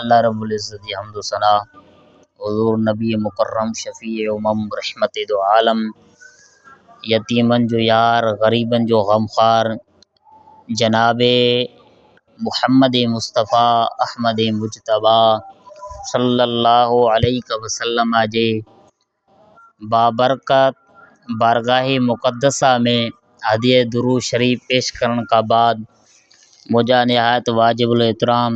الله رب العزت جي حمد و ثنا حضور نبي مڪرم شفيع امم رحمت دو عالم يتيمن جو يار غريبن جو غمخوار جناب محمد مصطفيٰ احمد مجتبيٰ صلّي اللّٰه عليه وسلّم جي بابرڪت بارگاهه مقدسه ۾ هديه درود شريف پيش ڪرڻ کان بعد منهنجا نهايت واجب الاحترام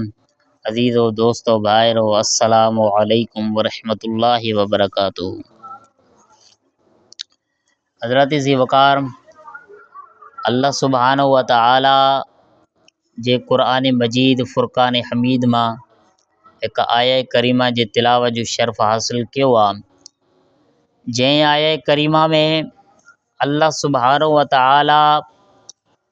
عزيزو دوستو ڀائرو السلام عليڪم ورحمة الله وبرڪاته حضرت ذي وقار الله سبحانه و تعاليٰ جي قرآن مجيد فرقان حميد مان هڪ آيه ڪريمه جي تلاوت جو شرف حاصل ڪيو آ جنهن آيه ڪريمه ۾ الله سبحانه و تعاليٰ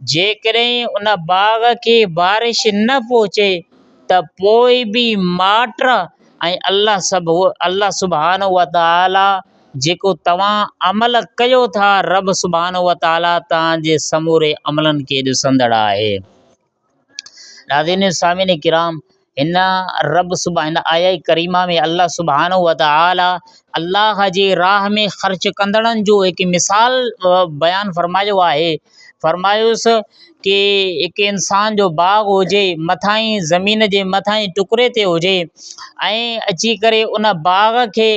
جيڪڏهن ان باغ کي بارش نه پهچي ته پوء به ماٽ ۽ الله سڀ الله سبحانه وتعالي جيڪو توهان عمل ڪيو ٿا رب سبحانه وتعالي توهان جي سموري عملن کي ڏسندڙ آهي. ناظرين ۽ سامعين ڪرام هن رب سبح هن آيه ڪريمه ۾ الله سبحانه وتعالي الله جي راھ ۾ خرچ ڪندڙن جو هڪ مثال بيان فرمايو آهي فرمايوس ڪي هڪ انسان جو باغ هجي مٿاهين زمين جي مٿاهين ٽڪري تي هجي ۽ اچي ڪري ان باغ کي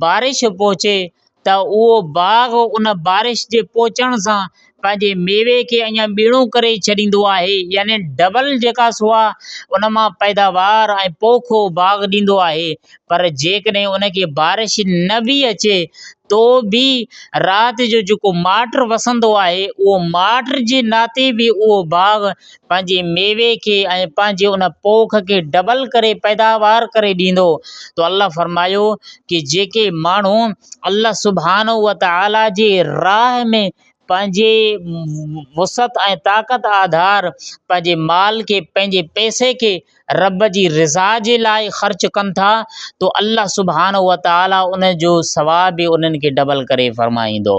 بارش پهچي ته اهو باغ ان بارش جي پهچڻ سان پنهنجي ميوي کي اڃا ٻيڻو ڪري ڇڏيندو آهي يعني ڊبل جيڪا سو آهي ان مان پيداوار ۽ پوکو باغ ڏيندو آهي پر جيڪڏهن ان کي بارش نه به اچي تو به رات جو جيڪو ماٽ وسندو آهي اهو ماٽ جي ناتي به اهو باغ پنهنجي ميوي کي ۽ پنهنجي ان پوک کي ڊبل ڪري پيداوار ڪري ڏيندو تو الله فرمايو ڪي جيڪي ماڻهو الله سبحانه وتعالي جي راهه ۾ پنهنجي وسعت ۽ طاقت آڌار پنهنجي مال کي پنهنجي پئسي کي رب جي رضا جي لاء خرچ ڪن ٿا تو الله سبحانه وتعالي ان جو ثواب به انهن کي ڊبل ڪري فرمائيندو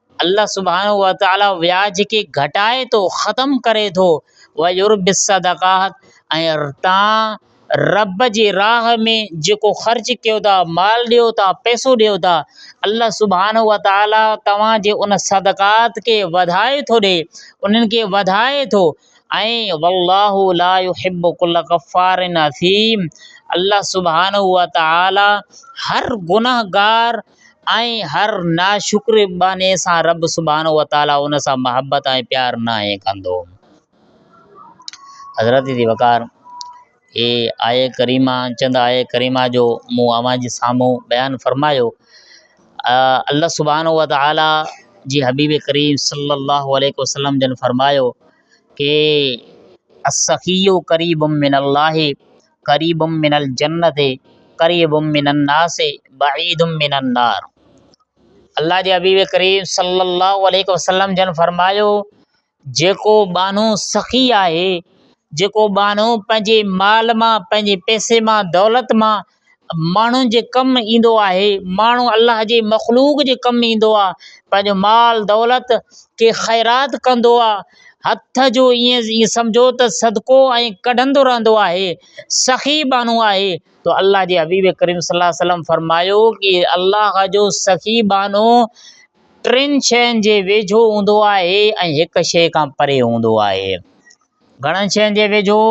الله سبحانه وتعالي وياج کي گهٽائي ٿو ختم ڪري ٿو ويربي الصدقات ۽ تان رب جي راهه ۾ جيڪو خرچ ڪيو ٿا مال ڏيو ٿا پئسو ڏيو ٿا الله سبحانه وتعالي توهان جي ان صدقات کي وڌائي ٿو ڏي انهن کي وڌائي ٿو ۽ والله لا يحب ڪل ڪفار اثيم الله سبحانه وتعالي هر گنهگار ۽ هر ناشڪري ٻانهي سان رب سبحانه وتعاليٰ ان سان محبت ۽ پيار ناهي ڪندو. حضرت جي وقار اي آيه ڪريمه چند آيه ڪريمه جو مون اوهان جي سامهون بيان فرمايو. الله سبحانه وتعاليٰ جي حبيب ڪريم صلّي الله عليه وسلّم جن فرمايو ڪي السّخي قريب من الله قريب من الجنة قريب من الناس بعيد من النار الله جي حبيب ڪريم صلي الله عليه وسلم جن فرمايو جيڪو ٻانهو سخي آهي جيڪو ٻانهو پنهنجي مال مان پنهنجي پئسي مان دولت مان ماڻهن جي ڪم ايندو آهي ماڻهو الله جي مخلوق جي ڪم ايندو آهي پنهنجو مال دولت کي خيرات ڪندو آهي هٿ جو ائين ائين سمجهو ته صدقو ۽ ڪڍندو رهندو آهي سخي ٻانهو آهي تو الله جي حبيب ڪريم صلي الله عليه وسلم فرمايو ڪي الله جو سخي ٻانهو ٽن شين جي ويجهو هوندو آهي ۽ هڪ شي کان پري هوندو آهي گهڻن شين جي ويجهو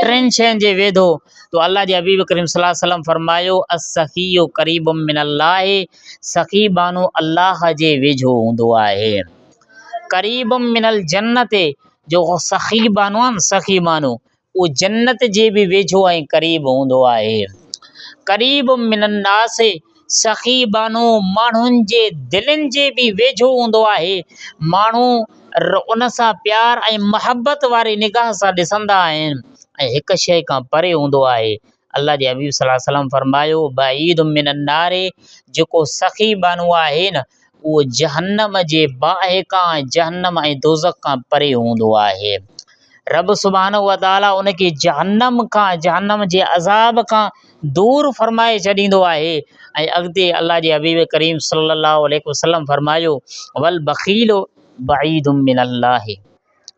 ٽن شين جي ويجهو تو الله جي حبيب ڪريم صلي الله عليه وسلم فرمايو السخي قريب من الله سخي ٻانهو الله جي ويجهو هوندو آهي قريب من الجنت جو سخي ٻانهو آهي نه سخي ٻانهو اهو جنت جي به ويجهو ۽ قريب هوندو آهي قريب من الناس سخي ٻانهو ماڻهن جي دلين جي به ويجهو هوندو آهي ماڻهو ان سان پيار ۽ محبت واري نگاهه سان ڏسندا آهن ۽ هڪ شيء کان پري هوندو آهي الله جي حبيب صلّي الله عليه وسلّم فرمايو بعيد من النّار جيڪو سخي ٻانهو آهي نه اهو جهنم جي باهه کان، جهنم ۽ دوزخ کان پري هوندو آهي. رب سبحانه وتعاليٰ ان کي جهنم کان، جهنم جي عذاب کان دور فرمائي ڇڏيندو آهي ۽ اڳتي الله جي حبيب ڪريم صلّي اللّٰه عليه وسلّم فرمايو، والبخيل بعيد من اللّٰه.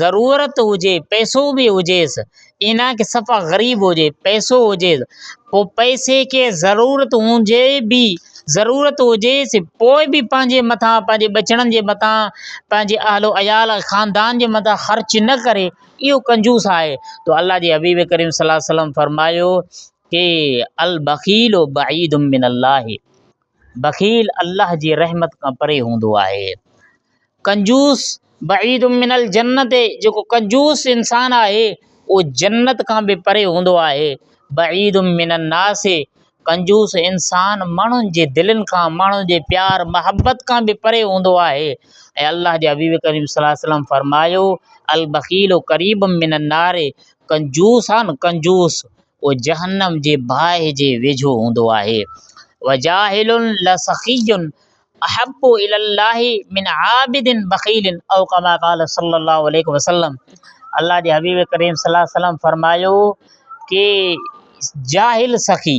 ضرورت هجي پئسو به هجيس ايئن نه آهي صفا غريب هجي پئسو هجيس پوء پئسي کي ضرورت هجي به ضرورت هجيس پوء به پنهنجي مٿان پنهنجي ٻچڙن جي مٿان پنهنجي اهل و عيال خاندان جي مٿان خرچ نه ڪري اهو ڪنجوس آهي تو الله جي حبيب ڪريم صلي الله عليه وسلم فرمايو ڪي البخيل بعيد من الله بخيل الله جي رحمت کان پري هوندو آهي. ڪنجوس بعيد من الجنت جيڪو ڪنجوس انسان آهي اهو جنت کان به پري هوندو آهي. بعيد من الناس ڪنجوس انسان ماڻهن جي دلين کان ماڻهن جي پيار محبت کان به پري هوندو آهي ۽ الله جي حبيب ڪريم صلي الله عليه وسلم فرمايو البخيل قريب من النار ڪنجوس آهي نه ڪنجوس اهو جهنم جي باهه جي ويجهو هوندو آهي. وجاهل لسخي احب الي الله من عابد بخيل او ڪما قال صلي الله عليه وسلم الله جي حبيب ڪريم صلي الله عليه وسلم فرمايو ڪي جاهل سخي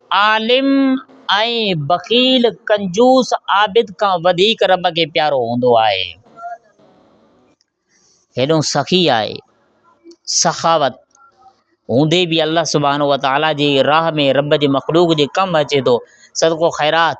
عالم ۽ بخيل، ڪنجوس، عابد کان وڌيڪ رب کي پيارو هوندو آهي. هيڏو سخي آهي، سخاوت هوندي به الله سبحانه وتعاليٰ جي راهه ۾ رب جي مخلوق جي ڪم اچي ٿو، صدقو خيرات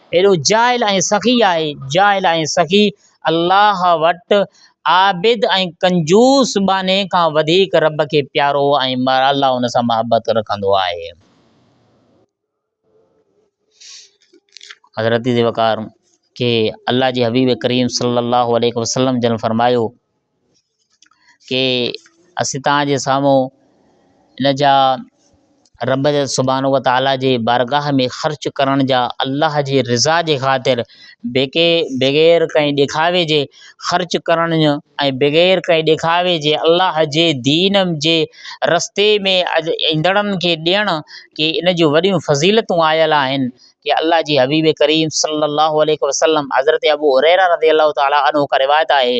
اهڙو جاهل ۽ سخي آهي، جاهل ۽ سخي الله وٽ عابد ۽ ڪنجوس ٻانهي کان وڌيڪ رب کي پيارو ۽ الله ان سان محبت رکندو آهي. حضرت ذي وقار کي الله جي حبيب ڪريم صلي الله عليه وسلم جن فرمايو ڪي اسين توهان جي سامهون ان جا رب سبحانه و تعاليٰ جي بارگاهه ۾ خرچ ڪرڻ جا الله جي رضا جي خاطر بيڪي بغير ڪنهن ڏيکاوي جي خرچ ڪرڻ ۽ بغير ڪنهن ڏيکاوي جي الله جي دين جي رستي ۾ ايندڙن کي ڏيڻ ڪي ان جون وڏيون فضيلتون آيل آهن ڪي الله جي حبيب ڪريم صلّي الله عليه وسلّم حضرت ابو هريره رضي الله تعالٰي عنه کان روايت آهي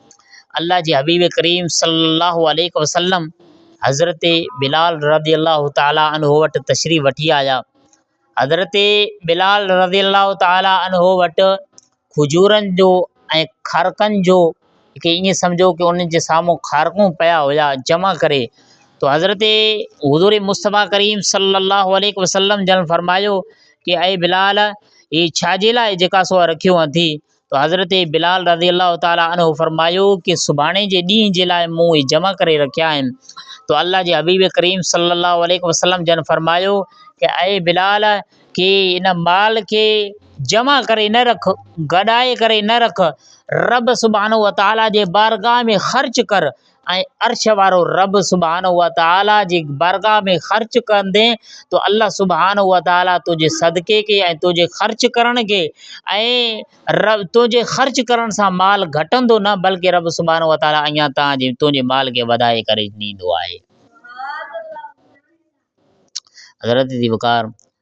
الله جي حبيب ڪريم صلّي اللّٰه عليه وسلّم حضرت بلال رضي الله تعالٰي عنه وٽ تشريف وٺي آيا حضرت بلال رضي الله تعالٰي عنه وٽ کجورن جو ۽ کارڪن جو کي ائين سمجهو ته ان جي سامهون کارڪون پيا هيا جمع ڪري تو حضرت حضور مصطفٰي ڪريم صلّي اللّٰه عليه وسلّم جن فرمايو ڪي اي بلال هي ڇاجي لاء جيڪا سو رکيو اٿي ته حضرت بلال رضي الله تعالٰي عنه فرمايو ڪي سڀاڻي جي ڏينهن جي لاء مون اهي جمع ڪري رکيا آهن ته الله جي حبيب ڪريم صلي الله عليه وسلم جن فرمايو ڪي اي بلال ڪي ان مال کي جمع ڪري نه رک گڏائي ڪري نه رک رب سبحانه وتعالٰي جي بارگاهه ۾ خرچ ڪر ۽ عرش وارو رب سبحانه وتعاليٰ جي بارگاھ ۾ خرچ ڪندين ته الله سبحانه وتعاليٰ تنهنجي صدقي کي ۽ تنهنجي خرچ ڪرڻ کي ۽ تنهنجي خرچ ڪرڻ سان مال گهٽندو نه بلڪه رب سبحانه وتعاليٰ اڃا تنهنجي مال کي وڌائي ڪري ڏيندو آهي. حضرت ذوالفقار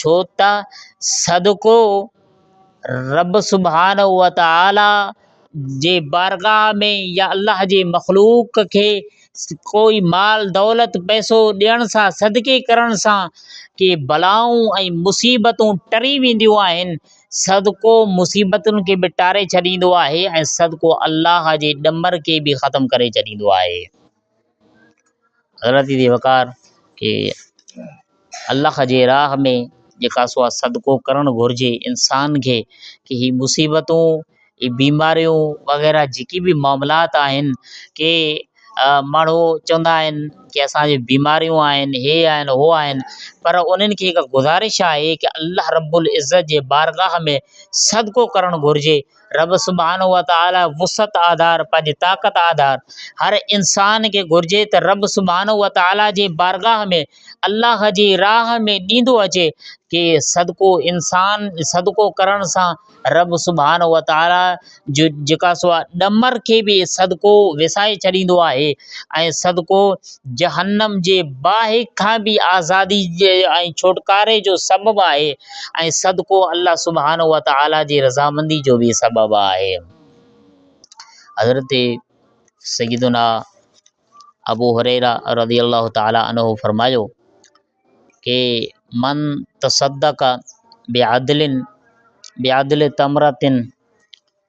ڇو ته صدقو رب سبحانه وتعاليٰ جي بارگاهه ۾ يا الله جي مخلوق کي ڪوئي مال دولت پئسو ڏيڻ سان صدقي ڪرڻ سان ڪي بلائون ۽ مصيبتون ٽري وينديون آهن صدقو مصيبتن کي به ٽاري ڇڏيندو آهي ۽ صدقو الله جي ڏمر کي به ختم ڪري ڇڏيندو آهي غلط ٿي وقار کي الله جي راھ ۾ جيڪا سو آھي صدقو ڪرڻ گھرجي انسان کي ڪي ھي مصيبتون ھي بيماريون وغيره جيڪي به معاملات آھن ڪي ماڻھو چوندا آھن ڪي اسانجي بيماريون آھن ھي آھن ھو آھن پر انھن کي ھڪ گذارش آھي ڪي الله رب العزت جي بارگاھ ۾ صدقو ڪرڻ گھرجي رب سبحانه وتعاليٰ وسعت آڌار پنهنجي طاقت آڌار هر انسان کي گهرجي ته رب سبحانه وتعاليٰ جي بارگاهه ۾ الله جي راهه ۾ ڏيندو اچي ڪي صدقو انسان صدقو ڪرڻ سان رب سبحانه وتعاليٰ جو جيڪا سو آهي ڏمر کي به صدقو وسائي ڇڏيندو آهي ۽ صدقو جهنم جي باهه کان به آزادي ۽ ڇوٽڪاري جو سبب آهي ۽ صدقو الله سبحانه وتعالي جي رضامندي جو به سبب آهي. حضرت سيدنا ابو هريره رضي الله تعالٰي عنه فرمايو ڪي من تصدق بعدل بعدل تمرتن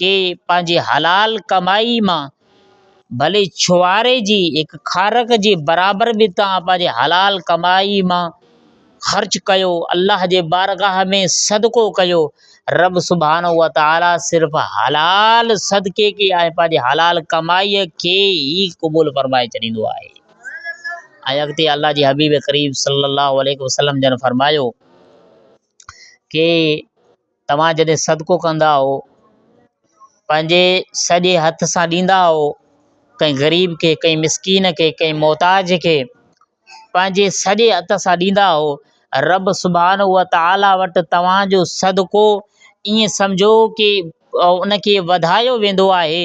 کي پنهنجي حلال ڪمائي مان ڀلي ڇوهاري جي هڪ خارڪ جي برابر به توهان پنهنجي حلال ڪمائي مان خرچ ڪيو الله جي بارگاھ ۾ صدقو ڪيو رب سبحانه وتعاليٰ صرف حلال صدقي کي ۽ پنهنجي حلال ڪمائي کي ئي قبول فرمائي ڇڏيندو آهي ۽ اڳتي الله جي حبيب ڪريم صلّي اللّٰه عليه وسلّم جن فرمايو ڪي توهان جڏهن صدقو ڪندا آهو، پنهنجي سڄي هٿ سان ڏيندا آهو، ڪنهن غريب کي، ڪنهن مسڪين کي، ڪنهن محتاج کي، پنهنجي سڄي هٿ سان ڏيندا آهو، رب سبحانه وتعاليٰ وٽ توهان جو صدقو ائين سمجهو ڪي ان کي وڌايو ويندو آهي.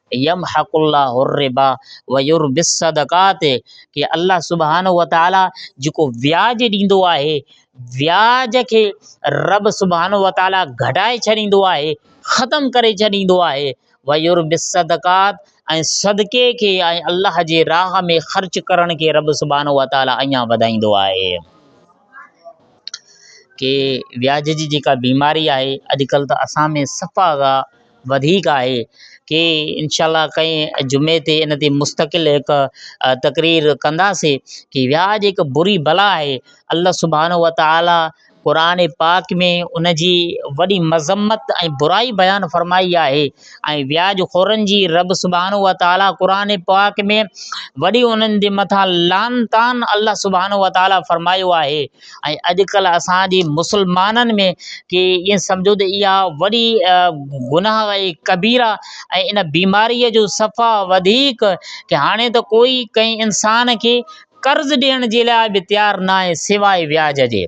يمحق الله الربا ويربي الصدقات کي الله سبحانه وتعالي جيڪو وياج ڏيندو آهي وياج کي رب سبحانه وتعالي گهٽائي ڇڏيندو آهي ختم ڪري ڇڏيندو آهي ويربي الصدقات ۽ صدقي کي ۽ الله جي راهه ۾ خرچ ڪرڻ کي رب سبحانه وتعالي اڃا وڌائيندو آهي ڪي وياج جي جيڪا بيماري آهي اڄڪلهه ته اسان ۾ صفا وڌيڪ آهي ڪي انشاء الله ڪنهن جمعي تي ان تي مستقل هڪ تقرير ڪنداسي ڪي وياج هڪ بري بلا آهي الله سبحانه و تعالٰي قرآن پاڪ ۾ ان جي وڏي مذمت ۽ برائي بيان فرمائي آهي ۽ وياج خورن جي رب سبحانه و تعالٰي قرآن پاڪ ۾ وڏي انهن جي مٿان لعن طعن الله سبحانه و تعالٰي فرمايو آهي ۽ اڄ ڪلهه اسان جي مسلمانن ۾ ڪي ائين سمجهو ته اها وڏي گناهه ۽ قبيره ۽ ان بيماريء جو صفا وڌيڪ ڪي هاڻي ته ڪوئي ڪنهن انسان کي قرض ڏيڻ جي لاء به تيار نه آهي سواء وياج جي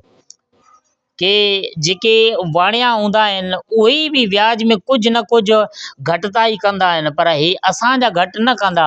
ڪي جيڪي واڻيا هوندا آهن اهي به وياج ۾ ڪجهه نه ڪجهه گهٽتائي ڪندا آهن پر هي اسانجا گهٽ نه ڪندا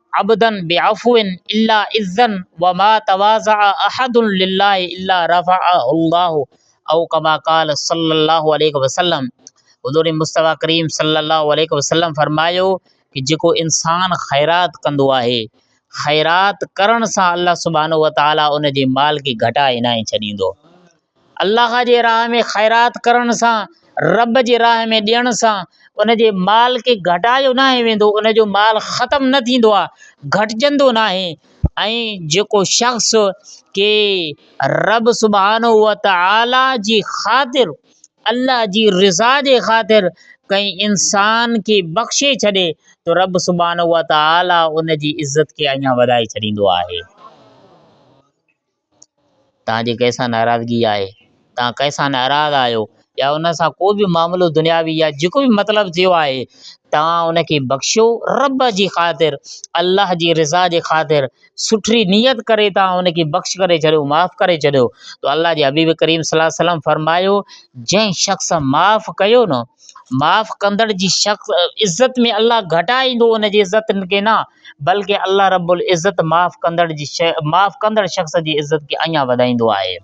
عبدا بعفو الا عزا وما تواضع احد لله الا رفعه الله او ڪما قال صلّي الله عليه وسلّم حضور مصطفٰي ڪريم صلّي الله عليه وسلّم فرمايو ته جيڪو انسان خيرات ڪندو آهي خيرات ڪرڻ سان الله سبحانه وتعالٰي ان جي مال کي گهٽائي ناهي ڇڏيندو الله جي راهه ۾ خيرات ڪرڻ سان، رب جي راهه ۾ ڏيڻ سان ان جي مال کي گهٽايو ناهي ويندو، ان جو مال ختم نه ٿيندو آهي، گهٽجندو ناهي ۽ جيڪو شخص ڪي رب سبحانه وتعاليٰ جي خاطر، الله جي رضا جي خاطر ڪنهن انسان کي بخشي ڇڏي ته رب سبحانه وتعاليٰ ان جي عزت کي اڃا وڌائي ڇڏيندو آهي. توهان جي ڪنهن سان ناراضگي آهي، توهان ڪنهن سان ناراض آهيو يا ان سان ڪو به معاملو دنياوي يا جيڪو به مطلب ٿيو آهي، توهان ان کي بخشيو رب جي خاطر، الله جي رضا جي خاطر، سٺي نيت ڪري توهان ان کي بخش ڪري ڇڏيو، معاف ڪري ڇڏيو، ته الله جي حبيب ڪريم صلي الله عليه وسلم فرمايو، جنهن شخص معاف ڪيو نه، معاف ڪندڙ جي شخص عزت ۾ الله گهٽ آئيندو ان جي عزت کي نه بلڪ الله رب العزت معاف ڪندڙ جي معاف ڪندڙ شخص جي عزت کي اڃان وڌائيندو آهي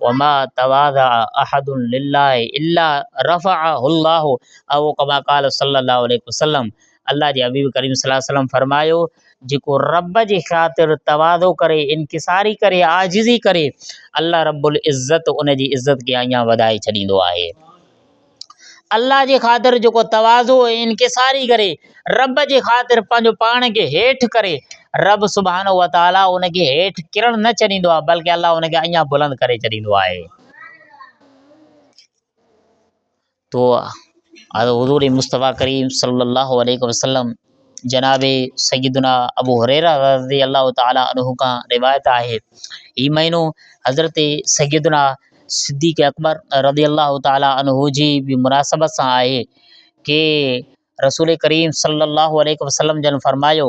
وما تواضع احد لله الا رفعه الله او ڪما قال صلي الله عليه وسلم الله جي حبيب ڪريم صلي الله عليه وسلم فرمايو، جيڪو رب جي خاطر تواضع ڪري، انڪساري ڪري، عاجزي ڪري، الله رب العزت ان جي عزت کي اڃا وڌائي ڇڏيندو آهي. الله جي خاطر جيڪو تواضع ۽ انڪساري ڪري، رب جي خاطر پنهنجو پاڻ کي هيٺ ڪري، رب سبحانه وتعاليٰ ان کي هيٺ ڪرڻ نه ڇڏيندو آهي، بلڪ الله ان کي اڃا بلند ڪري ڇڏيندو آهي. تو حضور مصطفٰي ڪريم صلّي اللّٰه عليه وسلّم جناب سيّدنا ابو هريره رضي اللّٰه تعالٰي عنه کان روايت آهي هي مهينو حضرت سيّدنا صدّيق اڪبر رضي اللّٰه تعالٰي عنه جي به مناسبت سان آهي ڪي رسول ڪريم صلّي اللّٰه عليه وسلّم جن فرمايو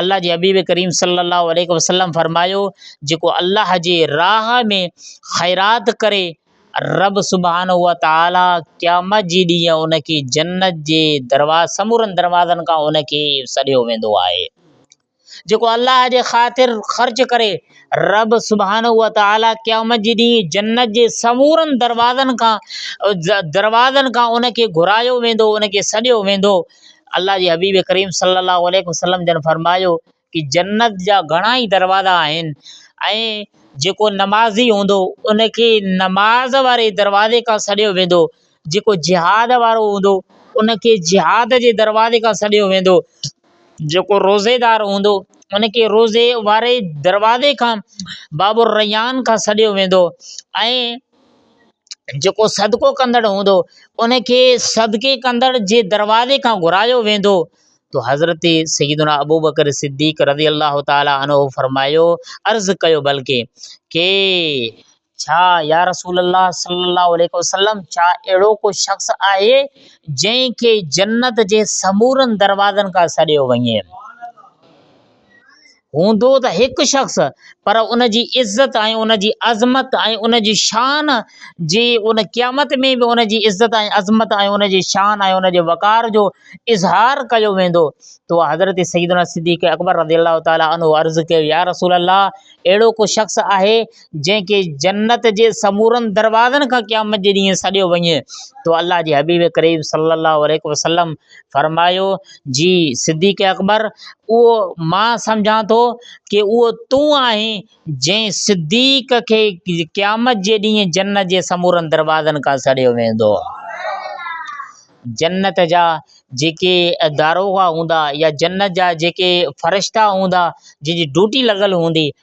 الله جي حبيب ڪريم صلّي اللّٰه عليه وسلّم فرمايو، جيڪو الله جي راھ ۾ خيرات ڪري، ربّ سبحانه وتعاليٰ قيامت جي ڏينهن ان کي جنّت جي سمورن دروازن کان ان کي سڏيو ويندو آهي. جيڪو الله جي خاطر خرچ ڪري، ربّ سبحانه وتعاليٰ قيامت جي ڏينهن جنّت جي سمورن دروازن کان ان کي گهرايو ويندو، ان کي سڏيو ويندو. الله جي حبيب ڪريم صلّي الله عليه وسلّم جن فرمايو ته جنّت جا گهڻا ئي دروازا آهن ۽ جيڪو نمازي هوندو ان کي نماز واري دروازي کان سڏيو ويندو جيڪو جهاد وارو هوندو ان کي جهاد جي دروازي کان سڏيو ويندو جيڪو روزيدار هوندو ان کي روزي واري دروازي کان باب الريّان کان سڏيو ويندو ۽ جيڪو صدقو ڪندڙ هوندو ان کي صدقي ڪندڙ جي دروازي کان گهرايو ويندو تو حضرت سيدنا ابوبڪر صديق رضي الله تعالٰي عنه فرمايو عرض ڪيو بلڪه ڪي ڇا يا رسول الله صلي الله عليه وسلم ڇا اهڙو ڪو شخص آهي جنهن کي جنت جي سمورن دروازن کان سڏيو وڃي هوندو ته هڪ شخص پر ان جي عزت ۽ ان جي عظمت ۽ ان جي شان جي ان قيامت ۾ به ان جي عزت ۽ عظمت ۽ ان جي شان ۽ ان جي وقار جو اظهار ڪيو ويندو تو حضرت سيدنا صديق اڪبر رضي الله تعالٰي عنه عرض ڪيو يا رسول الله اهڙو ڪو شخص آهي جنهن کي جنت جي سمورن دروازن کان قيامت جي ڏينهن سڏيو وڃي تو الله جي حبيب ڪريم صلّي الله عليه وسلّم فرمايو، جي صديق اڪبر! اهو مان سمجهان ٿو ته اهو تون آهين جنهن صديق کي قيامت جي ڏينهن جنت جي سمورن دروازن کان سڏيو ويندو. جنت جا جيڪي داروغا هوندا يا جنت جا جيڪي فرشتا هوندا جن جي ڊيوٽي لڳل هوندي،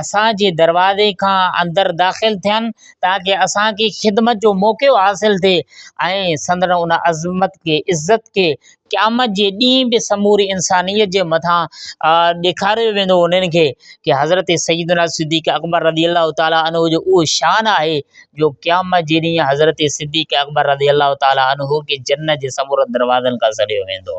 اسان جي دروازي کان اندر داخل ٿين تاڪه اسان کي خدمت جو موقعو حاصل ٿئي ۽ سندن ان عظمت کي عزت کي قيامت جي ڏينهن به سموري انسانيت جي مٿان ڏيکاريو ويندو انهن کي ڪي حضرت سيدنا صديق اڪبر رضي الله تعالٰي عنه جو اهو شان آهي جو قيامت جي ڏينهن حضرت صديق اڪبر رضي الله تعالٰي عنه کي جنت جي سمورن دروازن کان سڏيو ويندو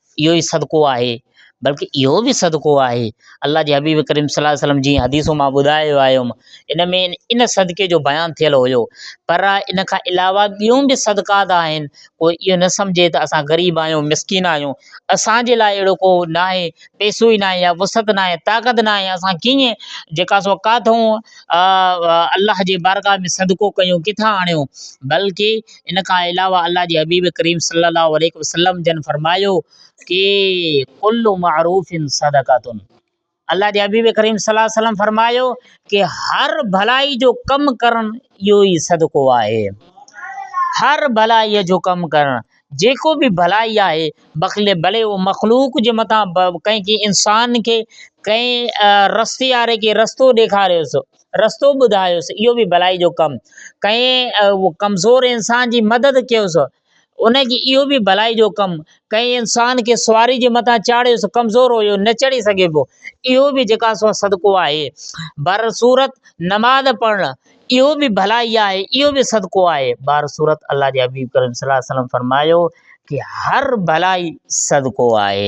اهو ئي صدقو آهي، بلڪ اهو به صدقو آهي، الله جي حبيب ڪريم صلي الله عليه وسلم جيئن حديث مان ٻڌايو آيم، ان ۾ ان صدقي جو بيان ٿيل هيو، پر ان کان علاوه ٻيون به صدقات آهن، ڪو اهو نه سمجهي ته اسان غريب آهيون، مسڪين آهيون، اسان جي لاء اهڙو ڪو ناهي، پئسو ئي ناهي يا وسعت ناهي، طاقت ناهي، اسان ڪيئن جيڪا سو ڪاٿئون الله جي بارگاهه ۾ صدقو ڪيون، ڪٿان آڻيون، بلڪ ان کان علاوه الله جي حبيب ڪريم صلّي الله عليه وسلّم جن فرمايو ڪي ڪل معروف صدقه الله جي حبيب ڪريم صلّي الله عليه وسلّم فرمايو ڪي هر ڀلائي جو ڪم ڪرڻ اهو ئي صدقو آهي هر ڀلائي جو ڪم ڪرڻ جيڪو به ڀلائي آهي بخل ڀلي هو مخلوق جي مٿان ڪنهن کي انسان کي ڪنهن رستي واري کي رستو ڏيکاريوس رستو ٻڌايس اهو به ڀلائي جو ڪم ڪئين ڪمزور انسان جي مدد ڪيوس ان جي اهو به ڀلائي جو ڪم ڪئين انسان کي سواري جي متان چاڙهيس ڪمزور هيو نه چڙهي سگهبو اهو به جيڪا سو صدقو آهي بر صورت نماز پڙهڻ اهو به ڀلائي آهي اهو به صدقو آهي بر صورت الله جي حبيب ڪريم صلي الله عليه وسلم فرمايو ڪي هر ڀلائي صدقو آهي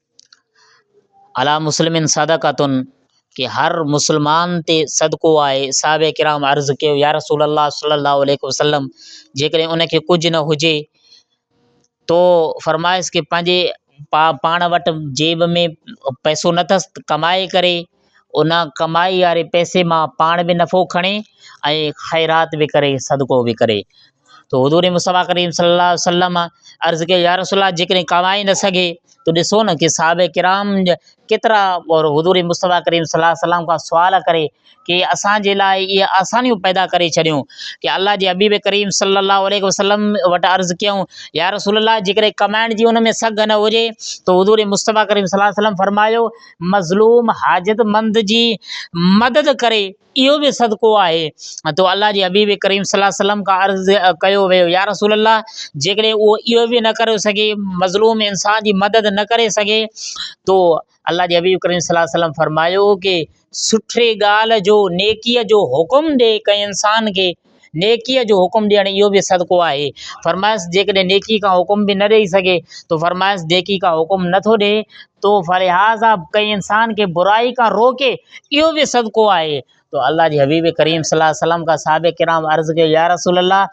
علی مسلم صدقة ته هر مسلمان تي صدقو آهي، صحابه ڪرام عرض ڪيو، يا رسول الله صلّي الله عليه وسلّم جيڪڏهن ان کي ڪجهه نه هجي تو فرمائس ته پنهنجي پا پاڻ وٽ جيب ۾ پئسو نه اٿس ته ڪمائي ڪري ان ڪمائي واري پئسي مان پاڻ به نفعو کڻي ۽ خيرات به ڪري صدقو به ڪري تو حضور مصطفيٰ ڪريم صلّي الله وسلّم عرض ڪيو يار رسول الله جيڪڏهن ڪمائي نه سگهي تو ڏسو نه ڪي صحابه ڪرام ڪيترا اور حضور مصطفيٰ ڪريم صلّي الله وسلّم کان سوال ڪري ڪي اسانجي لاء اهي آسانيون پيدا ڪري ڇڏيون ڪي الله جي حبيب ڪريم صلّي الله عليه وسلّم وٽ عرض ڪيون يار رسول الله جيڪڏهن ڪمائڻ جي ان ۾ سگهه نه هجي تو حضور مصطفيٰ ڪريم صلّي الله وسلّم فرمايو مظلوم حاجتمند جي مدد ڪري اهو به صدقو آهي تو الله جي حبيب ڪريم صلي الله عليه وسلم کان عرض ڪيو ويو يا رسول الله جيڪڏهن اهو اهو به نه ڪري سگهي مظلوم انسان جي مدد نه ڪري سگهي تو الله جي حبيب ڪريم صلي الله عليه وسلم فرمايو ڪي سٺي ڳالهه جو نيڪيء جو حڪم ڏي ڪنهن انسان کي نيڪيء جو حڪم ڏيڻ اهو به صدقو آهي. فرمايس، جيڪڏهن نيڪيء ڪا حڪم به نه ڏيئي سگهي تو فرمايس، نيڪيء ڪا حڪم نه ٿو ڏئي تو فلهذا ڪنهن انسان کي برائي کان روڪي اهو به صدقو آهي تو الله جي حبيب ڪريم صلي الله عليه وسلم کان صحابه ڪرام عرض ڪيو يا رسول الله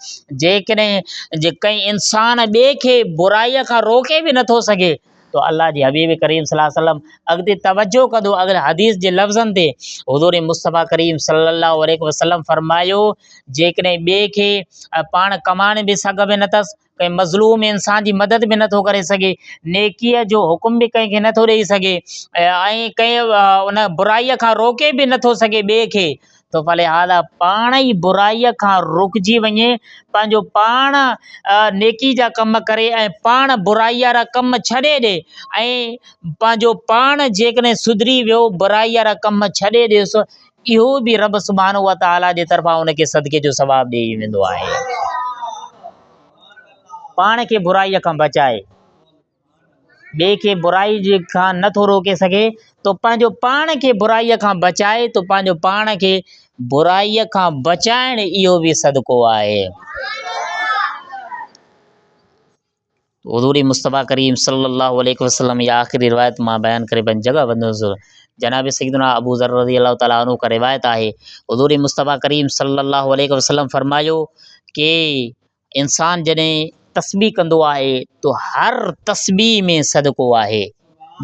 جيڪڏهن ڪنهن انسان ٻئي کي برائي کان روڪي به نه ٿو سگهي ته الله جي حبيب ڪريم صلي الله عليه وسلم اڳتي توجه ڪندو اڳين حديث جي لفظن تي حضور مصطفيٰ ڪريم صلي الله عليه وسلم فرمايو جيڪڏهن ٻئي کي پاڻ ڪمائڻ به سگهه ۾ نه اٿس ڪنهن مظلوم انسان جي مدد به نٿو ڪري سگهي نيڪيء جو حڪم به ڪنهن کي نٿو ڏئي سگهي ۽ ڪنهن ان برائيء کان روڪي به نٿو سگهي ٻئي کي ٿو فلهذا پاڻ ئي برائيء کان رڪجي وڃي پنهنجو پاڻ نيڪي جا ڪم ڪري ۽ پاڻ برائي وارا ڪم ڇڏي ڏي ۽ پنهنجو پاڻ جيڪڏهن سڌري ويو برائي وارا ڪم ڇڏي ڏيس اهو به رب سبحانه وتعاليٰ جي طرفان ان کي صدقي جو ثواب ڏئي ويندو آهي پاڻ کي برائيء کان بچائي ٻئي کي برائي کان نه ٿو روڪي سگهي، تو پنهنجو پاڻ کي برائي کان بچائي، تو پنهنجو پاڻ کي برائي کان بچائڻ اهو به صدقو آهي. حضور مصطفيٰ ڪريم صلي الله عليه وسلم جي آخري روايت مان بيان ڪري پنهنجي جڳهه وندس. جناب سيدنا ابو ذر رضي الله تعالٰي عنه کان روايت آهي، حضور مصطفيٰ ڪريم صلي الله عليه وسلم فرمايو ڪي انسان جڏهن تسبيح ڪندو آهي تو هر تسبيح ۾ صدقو آهي.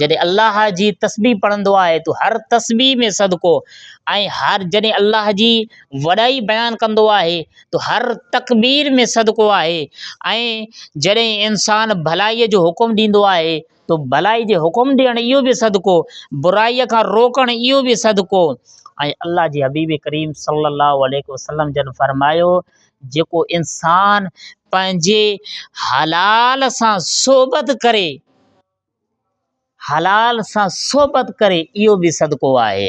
جڏهن الله جي تسبيح پڙهندو آهي تو هر تسبيح ۾ صدقو ۽ هر جڏهن الله جي وڏائي بيان ڪندو آهي تو هر تڪبير ۾ صدقو آهي ۽ جڏهن انسان ڀلائيء جو حڪم ڏيندو آهي تو ڀلائي جي حڪم ڏيڻ اهو به صدقو، برائي کان روڪڻ اهو به صدقو ۽ الله جي حبيب ڪريم صلّي الله عليه وسلّم جن فرمايو، جيڪو انسان پنهنجي حلال سان صحبت ڪري، حلال سان صحبت ڪري اهو به صدقو آهي.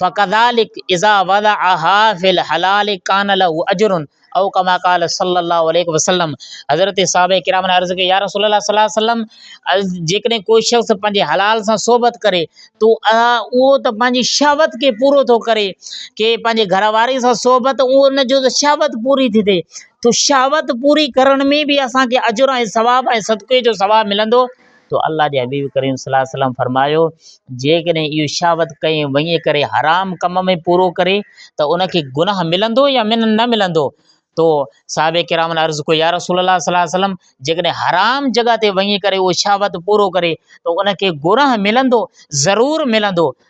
فڪذلک اذا وضعها في الحلال ڪان له اجر او ڪما قال صلي الله عليه وسلم حضرت صحابه کرام نے عرض ڪئي يا رسول الله صلي الله عليه وسلم جيڪڏهن ڪو شخص پنهنجي حلال سان صحبت ڪري تو اهو ته پنهنجي شهوت کي پورو ٿو ڪري ڪي پنهنجي گهر واري سان صحبت اهو ان جو شهوت پوري ٿي ٿئي تو شهوت پوري ڪرڻ ۾ به اسانکي اجر ۽ ثواب ۽ صدقي جو ثواب ملندو تو الله جي حبيب ڪريم صلي الله عليه وسلم فرمايو، جيڪڏهن اهو شهوت ڪنهن وڃي ڪري حرام ڪم ۾ پورو ڪري ته ان کي گناهه ملندو يا نه ملندو؟ تو صحابه ڪرامن عرض ڪيو يا رسول الله صلي الله عليه وسلم جيڪڏهن حرام جڳهه تي وڃي ڪري اهو شهوت پورو ڪري ته ان کي گناهه ملندو؟ ضرور ملندو.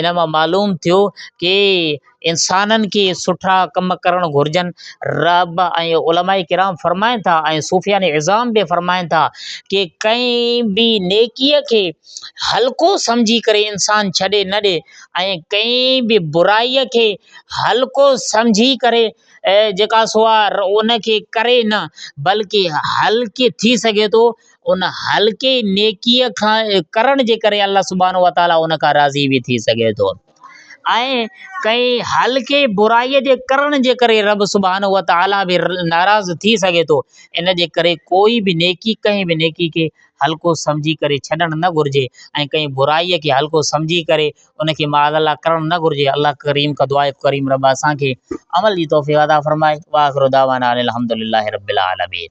ان مان معلوم ٿيو ڪي انسانن کي سٺا ڪم ڪرڻ گهرجن رب ۽ علماء ڪرام فرمائن ٿا ۽ صوفيان عظام بي فرمائن ٿا ڪي ڪئين بي نيڪيء کي هلڪو سمجهي ڪري انسان ڇڏي نه ڏي ۽ ڪئين بي برائيء کي هلڪو سمجهي ڪري جيڪا سو آ ان کي ڪري نه بلڪه هلڪي ٿي سگهي ٿو ان هلڪي نيڪيء کان ڪرڻ جي ڪري الله سبحانه وتعاليٰ ان کان راضي به ٿي سگهي ٿو ۽ ڪنهن هلڪي برائيء جي ڪرڻ جي ڪري رب سبحانه وتعاليٰ به ناراض ٿي سگهي ٿو ان جي ڪري ڪوئي به نيڪي ڪنهن به نيڪي کي هلڪو سمجهي ڪري ڇڏڻ نه گهرجي ۽ ڪنهن برائيء کي هلڪو سمجهي ڪري ان کي معاذ الله ڪرڻ نه گهرجي الله ڪريم کان دعا آهي ڪريم رب اسان کي عمل جي توفيق عطا فرمائي واخر دعوانا ان الحمد لله رب العالمين